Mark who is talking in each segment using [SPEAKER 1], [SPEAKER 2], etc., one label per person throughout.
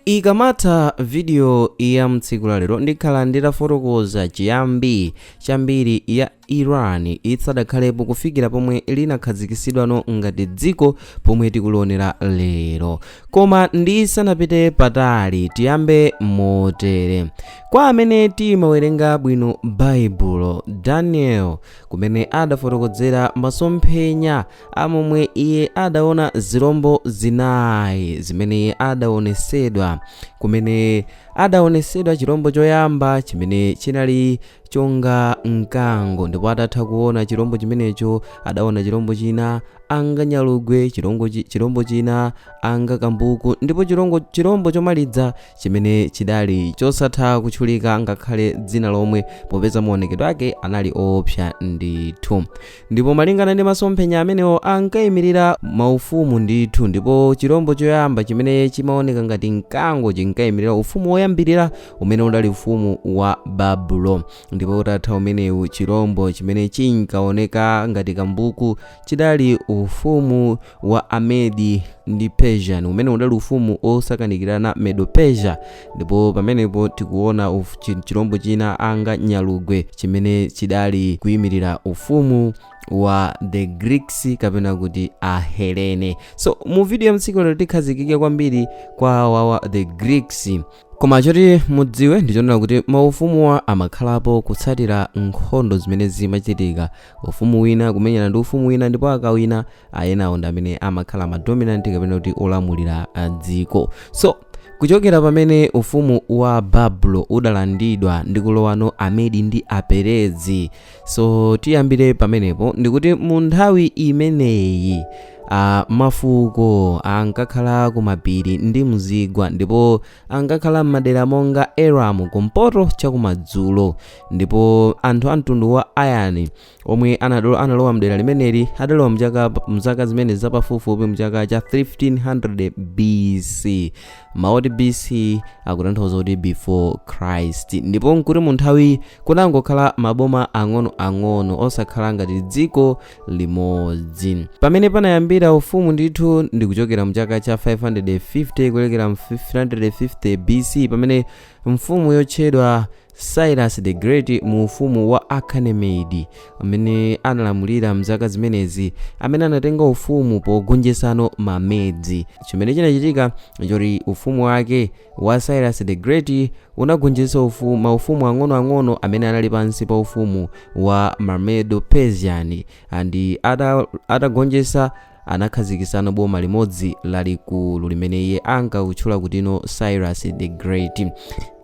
[SPEAKER 1] Ikamatha video ya mtsiku la lero ndikhala nditafotokoza chiyambi cha mbiri ya Iran isadakhalepo kufikira pomwe linakhazikisidwano ngati dziko pomwe tikulionera lero. Koma ndisanapite patali tiyambe motere. Kwa amene timawerenga bwino Baibulo, Daniel kumene adafotokozera masomphenya a momwe iye adaona zilombo zinayi zimene iye adaonesedwa kumene adaonesedwa chilombo choyamba chimene chinali chonga mkango ndipo atatha kuona chilombo chimenecho adaona chilombo china anga nyalugwe chilongo chi- chilombo china anga kambuku ndipo chilongo chilombo chomaliza chimene chidali chosatha kutchulika ngakhale dzina lomwe popeza maonekedwe ake anali oopsa ndithu ndipo malingana ndi masomphenya amenewo ankayimirira maufumu ndithu ndipo chirombo choyamba chimene chimaoneka ngati mkango chinkayimirira ufumu woyambirira umene udali ufumu wa babulo ndipo utatha umenewu chirombo chimene chinkaoneka ngati kambuku chidali ufumu wa amedi ndi persian umene udali ufumu wosakanikirana medo persia ndipo pamenepo tikuona uf- chi- chilombo china anga nyalugwe chimene chidali kuyimirira ufumu wa the greeks kapena kuti ahelene so mu video ya mtsiku lero tikhazikike kwambiri kwa awawa the greeks koma choti mudziwe ndichonena kuti maufumuwa amakhalapo kutsatira nkhondo zimene zimachitika ufumu wina kumenyana ndi ufumu wina ndipo akawina ayenawo ndi amene amakhala madominant kapena kuti olamulira ah, dziko so Kuchokera pamene ufumu wa Babulo udalandidwa ndi kulowano Amedi ndi Aperezi. So tiyambire pamenepo ndikuti mu nthawi imeneyi uh, mafuko ankakhala kumapiri ndi mzigwa ndipo ankakhala m'madera monga Elamu kumpoto chakumadzulo ndipo anthu a mtundu wa Aryan omwe anadolo analowa mdera limeneli adalowa mchaka mzaka zimene zapafupifupi mchaka cha 1500 BC maoti BC akutanthauza kuti before Christ ndipo nkuti mu nthawi kunangokhala maboma ang'ono-ang'ono osakhala ngati dziko limodzi pamene panayambira ufumu ndithu ndi kuchokera mchaka cha 550 kuwerengera 550 BC pamene mfumu yotchedwa Cyrus the Great mu ufumu wa Achaemenid, amene analamulira m'zaka zimenezi, amene anatenga ufumu pogonjetsano ma Medes. Chimene chinachitika nchoti ufumu wake, wa Cyrus the Great, unagonjetsa ufu, maufumu ang'onoang'ono amene anali pansi pa ufumu wa Mamedo-Persian, and ata, atagonjetsa anakhazikitsano boma limodzi lalikulu limene iye ankakutchula kutino cyrus the great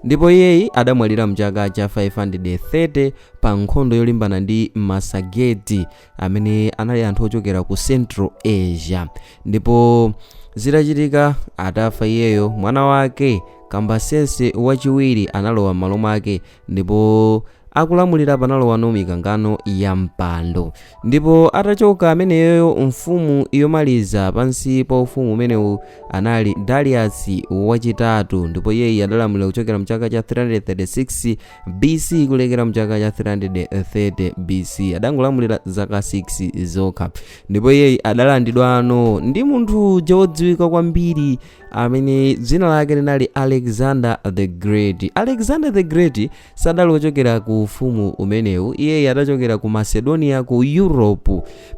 [SPEAKER 1] ndipo iyeyi adamwalira mchaka cha 530 pa nkhondo yolimbana ndi masageti amene anali anthu ochokera ku central asia ndipo zitachitika atafa iyeyo mwana wake kambasiense wachiwiri analowa m'malo mwake Ndipo akulamulira panalowano mikangano ya mpando. Ndipo atachoka ameneyo mfumu yomaliza pansi pa ufumu umenewu anali Darius wachitatu ndipo iyeyi adalamulira kuchokera mchaka cha 336 BC kulekera mchaka cha 330 BC adangolamulira zaka 6 zokha ndipo iyeyi adalandidwano ndi munthu uja wodziwika kwambiri amene dzina lake linali alexander the great alexander the great sadali wochokera ku ufumu umenewu iyeyi adachokera ku macedonia ku europe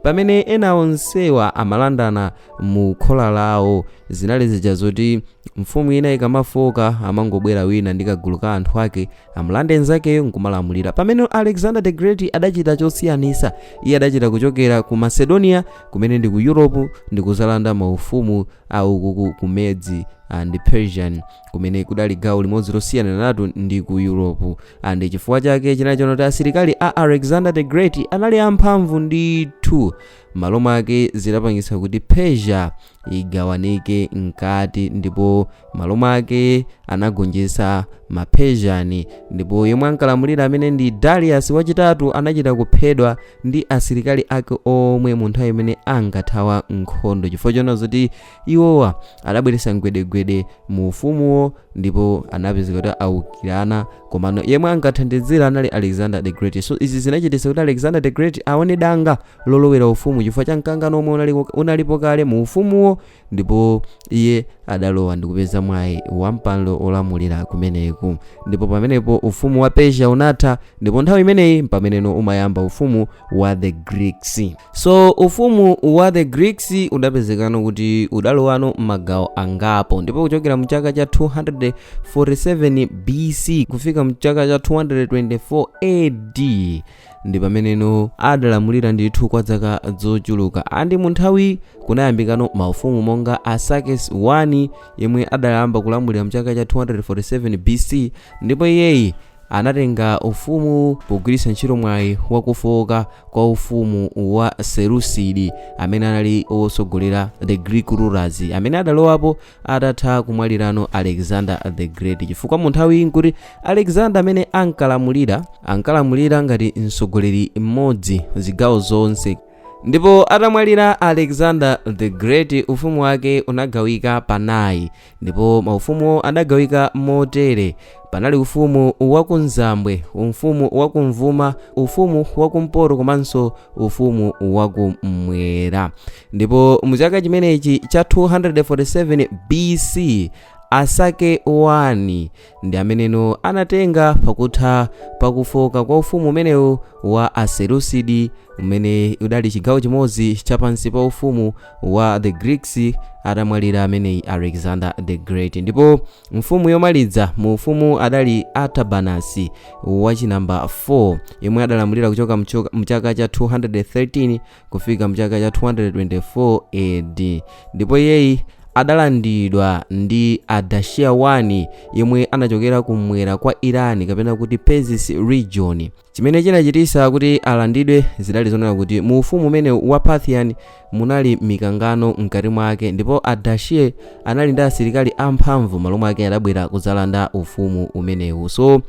[SPEAKER 1] pamene ena onsewa amalandana mu khola lawo zinali zija zoti mfumu ina ikamafoka amangobwera wina ndi kagulu ka anthu ake amulande nzakeyo nkumalamulira pamene alexander the great adachita chosiyanitsa iye adachita kuchokera ku macedonia kumene ndi ku europe ndikuzalanda maufumu a uku ku Medes and Persian, kumene kudali gawo limodzi losiyananatu ndi ku Europe, and chifukwa chake chinali chonena kuti asilikali a Alexander the Great anali amphamvu ndithu, malo mwake zidapangitsa kuti Persia igawanike mkati, ndipo malo mwake anagonjetsa ma Persian, ndipo yemwe ankalamulira amene ndi Darius wachitatu anachita kuphedwa, ndi asilikali ake omwe mu nthawi imene ankathawa nkhondo chifukwa choona zoti iwowa adabweretsa mgwedegwede mu ufumuwo ndipo anapezeka kuti aukirana komano yemwe ankathandizira anali alexander the great so izi zinachititsa kuti alexander the great aone danga lolowera ufumu chifukwa cha mkangano omwe unalipo kale mu ufumuwo ndipo iye adalowa ndikupeza mwayi wa mpando olamulira kumeneku ndipo pamenepo ufumu wa persia unatha ndipo nthawi imeneyi mpameneno umayamba ufumu wa the greeks so ufumu wa the greeks udapezekano kuti udalowano mmagawo angapo ndipo kuchokera mchaka cha 247 bc kufika mchaka cha 224 ad ndi pameneno adalamulira ndithu kwa zaka zochuluka andi mu nthawi kunayambikano maufumu monga arsaces 1 yemwe adayamba kulamulira mchaka cha 247 bc ndipo iyeyi anatenga ufumu pogwiritsa ntchito mwayi wakufoka kwa ufumu wa seleucid amene anali wotsogolera the greek rulers amene adalowapo atatha kumwalirano alexander the great chifukwa mu nthawiyi nkuti alexander amene ankalamulira ankalamulira ngati mtsogoleri mmodzi zigawo zonse ndipo atamwalira alexander the great ufumu wake unagawika panayi ndipo maufumu adagawika motere panali ufumu wakumzambwe ufumu wakumvuma ufumu wakumpoto komanso ufumu wakumwera ndipo mu chaka chimenechi cha 247 bc arsaces 1 ndi ameneno anatenga pakutha pakufoka kwa ufumu umenewu wa aseleucid umene udali chigawo chimodzi chapansi pa ufumu wa the greeks atamwalira ameneyi alexander the great ndipo Mfumu yomaliza mu ufumu adali Artabanus wachinamba 4 yemwe adalamulira kuchoka mchoka- mchaka cha 213 kufika mchaka cha 224 AD ndipo iyeyi adalandidwa ndi Ardashir 1 yemwe anachokera kumwera kwa Iran kapena kuti Persis region chimene chinachitisa kuti alandidwe zidali zonena kuti mu ufumu umene wa parthian munali mikangano mkati mwake ndipo ardashir anali ndi asilikali amphamvu malo mwake adabwera kudzalanda ufumu umenewu so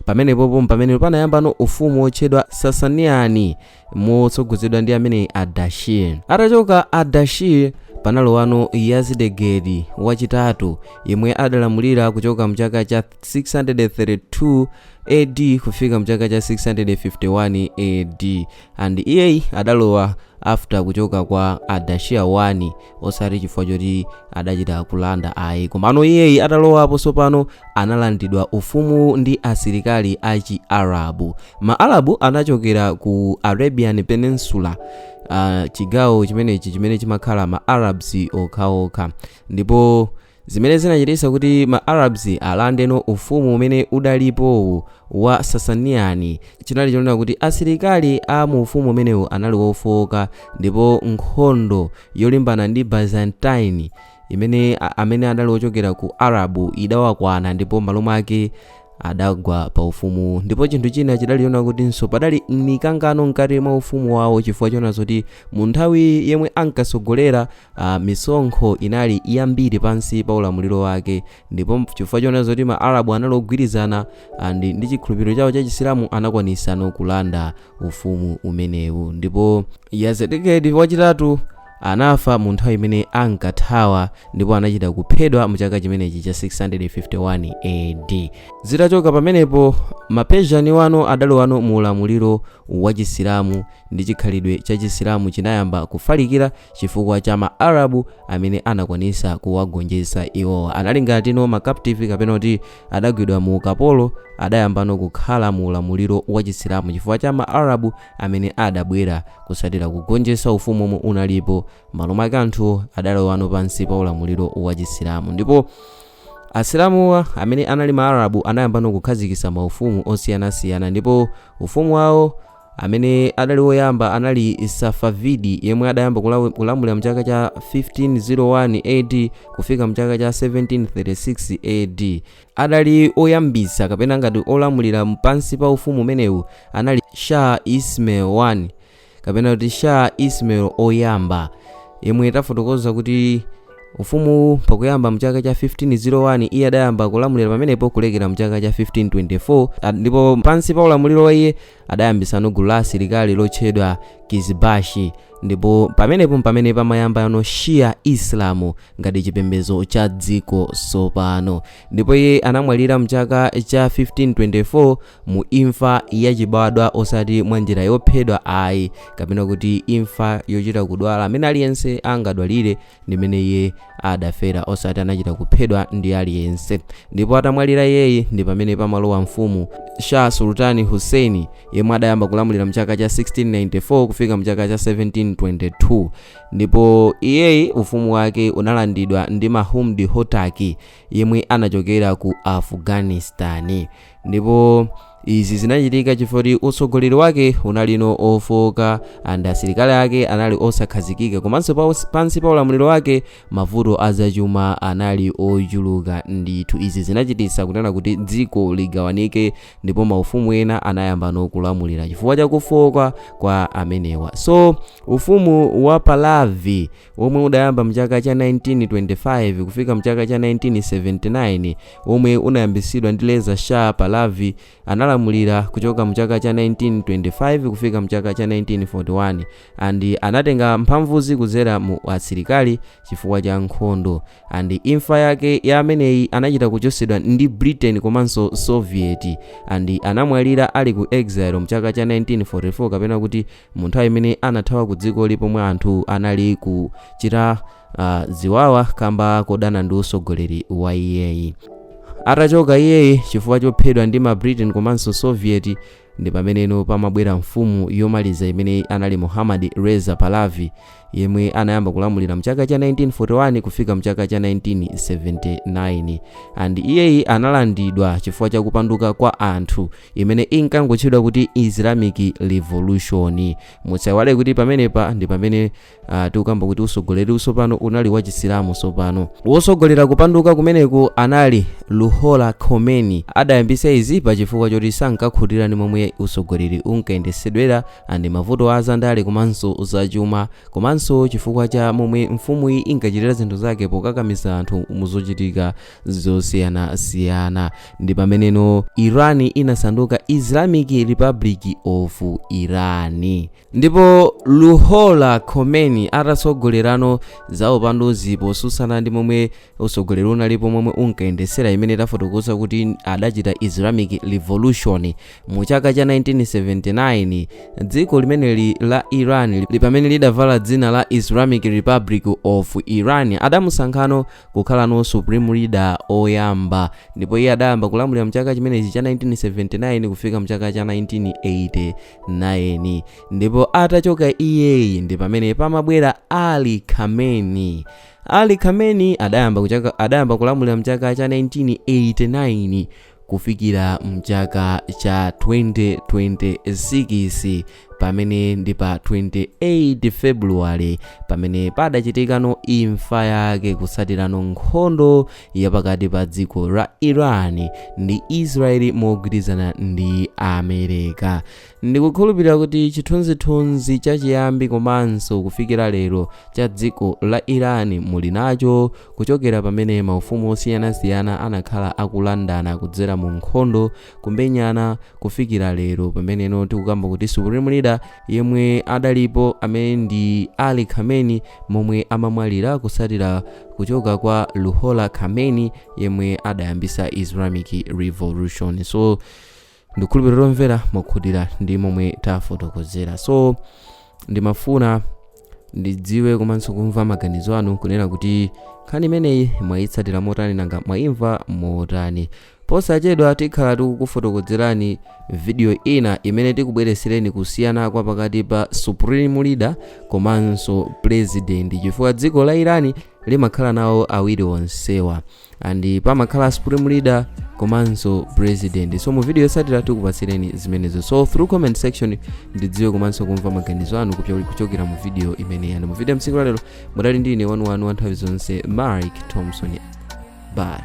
[SPEAKER 1] pamenepopo mpamene panayambano ufumu wotchedwa sasanian motsogozedwa ndi ameneyi ardashir atachoka ardashir panalowano yazdegerd wachitatu yemwe adalamulira kuchoka mchaka cha 632 AD kufika mchaka cha 651 AD and iyeyi adalowa after kuchoka kwa ardashir 1 osati chifukwa choti adachita kulanda ayi komano iyeyi atalowapo sopano analandidwa ufumu ndi asilikali a chiarabu maarabu anachokera ku arabian peninsula uh, chigawo chimenechi chimene chimakhala ma arabs okhaokha ndipo zimene zinachititsa kuti ma arabs alandeno ufumu umene udalipowu wa sasanian chinali chonena kuti asilikali a mu ufumu umenewu anali wofooka ndipo nkhondo yolimbana ndi byzantine imene a- amene adali ochokera ku arabu idawakwana ndipo malo mwake adagwa pa ufumuwu ndipo chinthu china chidali chonena kutinso padali mikangano mkati mwa ufumu wawo chifukwa chona zoti mu nthawi yemwe ankatsogolera uh, misonkho inali yambiri pansi pa ulamuliro wake ndipo chifukwa chona zoti ma arabu anali ogwirizana and ndi chikhulupiriro chawo cha chisilamu anakwanisano kulanda ufumu umenewu ndipo yazdegerd wachitatu Anafa mu nthawi imene ankathawa ndipo anachita kuphedwa mu chaka chimenechi cha 651 AD. Zitachoka pamenepo, ma Persian wano adalowano mu ulamuliro wa Chisilamu ndi chikhalidwe cha Chisilamu chinayamba kufalikira chifukwa cha ma Arabu amene anakwanisa kuwagonjetsa iwowa. Anali ngatino ma captive kapena kuti adagwidwa mu ukapolo adayambano kukhala mu ulamuliro wa Chisilamu chifukwa cha ma Arab. amene adabwera kutsatira kugonjetsa ufumu omwe unalipo m'malo mwake anthuwo adalowano pansi pa ulamuliro wa chisilamu ndipo asilamuwa amene anali maarabu anayambano kukhazikitsa maufumu osiyanasiyana ndipo ufumu wawo amene adali woyamba anali safavidi yemwe adayamba kulamulira mchaka cha 1501 ad kufika mchaka cha 1736 ad adali oyambitsa kapena ngati olamulira pansi pa ufumu umenewu anali shah ismail 1 kapena kuti shah ismail oyamba yemwe tafotokoza kuti ufumuwu pakuyamba mchaka cha 1501 iye adayamba kulamulira pamenepo kulekera mchaka cha 1524 ndipo pansi pa ulamuliro wa iye Adayambitsano gulu la asilikali lotchedwa Kizbashi, ndipo pamenepo mpamene pamayambano Shia Islamu ngati chipembedzo cha dziko tsopano. Ndipo iye anamwalira m'chaka cha 1524 mu imfa yachibadwa osati mwa njira yophedwa ayi, kapena kuti imfa yochita kudwala m'mene aliyense angadwalire, ndimene iye adafera osati anachita kuphedwa ndi aliyense ndipo atamwalira iyeyi ndi pamene pamalowa mfumu shah sultani hussein yemwe adayamba kulamulira mchaka cha 1694 kufika mchaka cha 1722 ndipo iyeyi ufumu wake unalandidwa ndi mahmud hotaki yemwe anachokera ku afghanistani ndipo izi zinachitika chifukwa choti utsogoleri wake unalino ofoka and asilikali ake anali osakhazikika komanso pansi pa ulamuliro wake mavuto azachuma anali ochuluka ndithu izi zinachititsa kunena kuti dziko ligawanike ndipo maufumu ena anayambano kulamulira chifukwa chakufoka kwa amenewa so ufumu wa palavi omwe udayamba mchaka cha 1925 kufika mchaka cha 1979 omwe unayambitsidwa ndi Reza Shah Pahlavi analamulira kuchoka mchaka cha 1925 kufika mchaka cha 1941 and anatenga mphamvuzi kudzera mu asilikali chifukwa cha nkhondo and imfa yake ya ameneyi anachita kuchosedwa ndi britain komanso soviet and anamwalira ali ku exile mchaka cha 1944 kapena kuti mu nthawi imene anathawa ku dzikoli pomwe anthu anali kuchita ziwawa kamba kodana ndi usogoleri wa iyeyi atachoka iyeyi chifukwa chophedwa ndi ma britain komanso soviet Ndi pameneno pamabwera mfumu yomaliza imene anali Muhammad Reza Pahlavi yemwe anayamba kulamulira mchaka cha 1941 kufika mchaka cha 1979 and iyeyi analandidwa chifukwa cha kupanduka kwa anthu imene inkangotchedwa kuti Islamic Revolution. Musaiwale kuti pamenepa ndi pamene tikukamba kuti usogoleri usopano unali wa Chisilamu sopano wosogolera kupanduka kumeneku anali Ruhollah Khomeini adayambisa izi pa chifukwa choti sankakhutira ndi momwe usogoleri unkayendesedwera and mavuto azandale komanso zachuma komanso chifukwa cha momwe mfumuyi inkachitira zinthu zake pokakamiza anthu muzochitika zosiyanasiyana ndi pameneno Iran inasanduka Islamic Republic of Iran ndipo Ruhollah Khomeini atatsogolerano za upanduzi posusana ndi momwe utsogoleri unalipo momwe unkayendesera imene tafotokoza kuti adachita Islamic Revolution mu chaka cha 1979 dziko limeneli la Iran pamene lidavala dzina la Islamic Republic of Iran adamusankhano kukhalano supreme leader oyamba ndipo iye adayamba kulamulira mchaka chimenechi cha 1979 kufika mchaka cha 1980 9 ndipo atachoka iyeyi ndi pamene pamabwera Ali Khamenei Ali Khamenei adayamba kulamulira mchaka cha 1989 kufikira mchaka cha 2026 pamene ndi pa 28 February pamene padachitikano imfa yake kusatirano nkhondo ya pakati pa dziko la Iran ndi Israeli mogwirizana ndi Amereka ndikukhulupirira kuti chithunzithunzi chachiyambi komanso kufikira lero cha dziko la Iran muli nacho kuchokera pamene maufumu osiyanasiyana anakhala akulandana kudzera mu nkhondo kumenyana kufikira lero pameneno tikukamba kuti supreme leader yemwe adalipo amene ndi Ali Khamenei momwe amamwalira kutsatira kuchoka kwa Ruhollah Khomeini yemwe adayambisa Islamic Revolution so ndikhulupirira omvera mwakhutira ndi momwe tafotokozera so ndimafuna ndidziwe komanso kumva maganizo anu kunena kuti nkhani imeneyi mwayitsatira motani nanga mwayimva motani posachedwa tikhala tikukufotokozerani video ina imene tikubweresereni kusiyana kwa pakati pa supreme leader komanso president chifukwa dziko la Iran limakhala nawo awiri onsewa and pamakhala supreme leader komanso president so mu video yotsatira tikupatsireni zimenezo so through comment section ndidziwe komanso kumva maganizo anu kuchokera mu video imeneyi and mu video mtsiku lalero mudali ndi ine wanu wanu wa nthawi zonse Mark Thompson bye